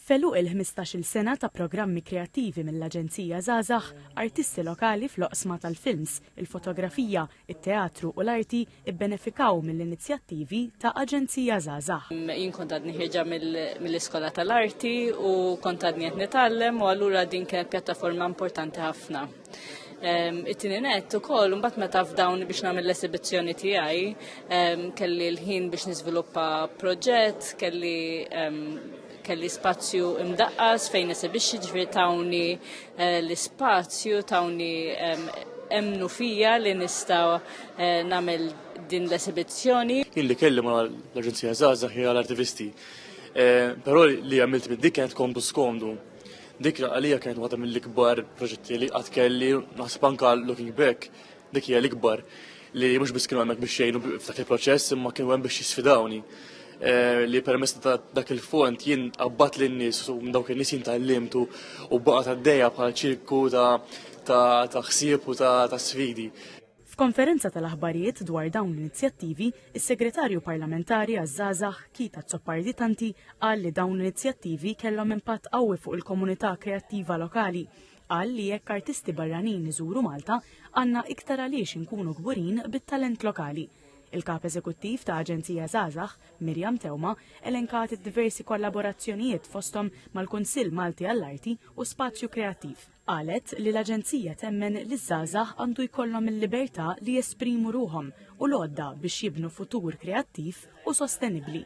F'għeluq il-ħmistax-il sena ta' programmi kreattivi mill-Aġenzija Żgħażagħ, artisti lokali fl-oqsma tal-films, il-fotografija, it-teatru u l-arti bbenefikaw mill-inizjattivi ta' Aġenzija Żgħażagħ. Jien kont għadni ħierġa mill-Iskola tal-Arti u kont għadni qed nitgħallem u allura din kienet pjattaforma importanti ħafna. It-tieni net ukoll mbagħad meta f'dawn biex nagħmel l-esibizzjoni tiegħi kelli l-ħin biex niżviluppa proġett, kelli kelli spazju imdaqqas fejn esibixxi ġifieri tawni eh, l-ispazju, tawni emnu fija li nista' eh, nagħmel din l-esibizzjoni. Illi kelli ma l-Aġenzija Zaza hija l-artivisti. Eh, però li għamilt mid-dik kienet komdu skomdu Dik għalija kienet waħda mill-ikbar proġetti li qatt kelli, naħseb anka looking back, dik hija l-ikbar li mhux biss kienu hemmhekk biex jgħinu f'dak il-proċess imma kienu hemm biex jisfidawni eh, li permess ta' dak il-fond jien qabbat lin nies u dawk in-nies jien tallimtu u baqa' għaddejja bħal ċirku ta' ta' ħsieb u ta' sfidi. F'konferenza tal-aħbarijiet dwar dawn l-inizjattivi, is-Segretarju Parlamentari għaż-Żgħażagħ Keith Azzopardi Tanti qal li dawn l-inizjattivi kellhom impatt qawwi fuq il-komunità kreattiva lokali. Qal li jekk artisti barranin iżuru Malta, għandna iktar għaliex inkunu kburin bit-talent lokali. Il-Kap Eżekuttiv ta' Aġenzija Żgħażagħ, Miriam Teuma, elenkat id-diversi kollaborazzjonijiet fosthom mal-Kunsill Malti għall-Arti u Spazju Kreattiv. Qalet li l-Aġenzija temmen li ż-żgħażagħ għandu jkollhom il-libertà li jesprimu ruħhom u l-għodda biex jibnu futur kreattiv u sostenibbli.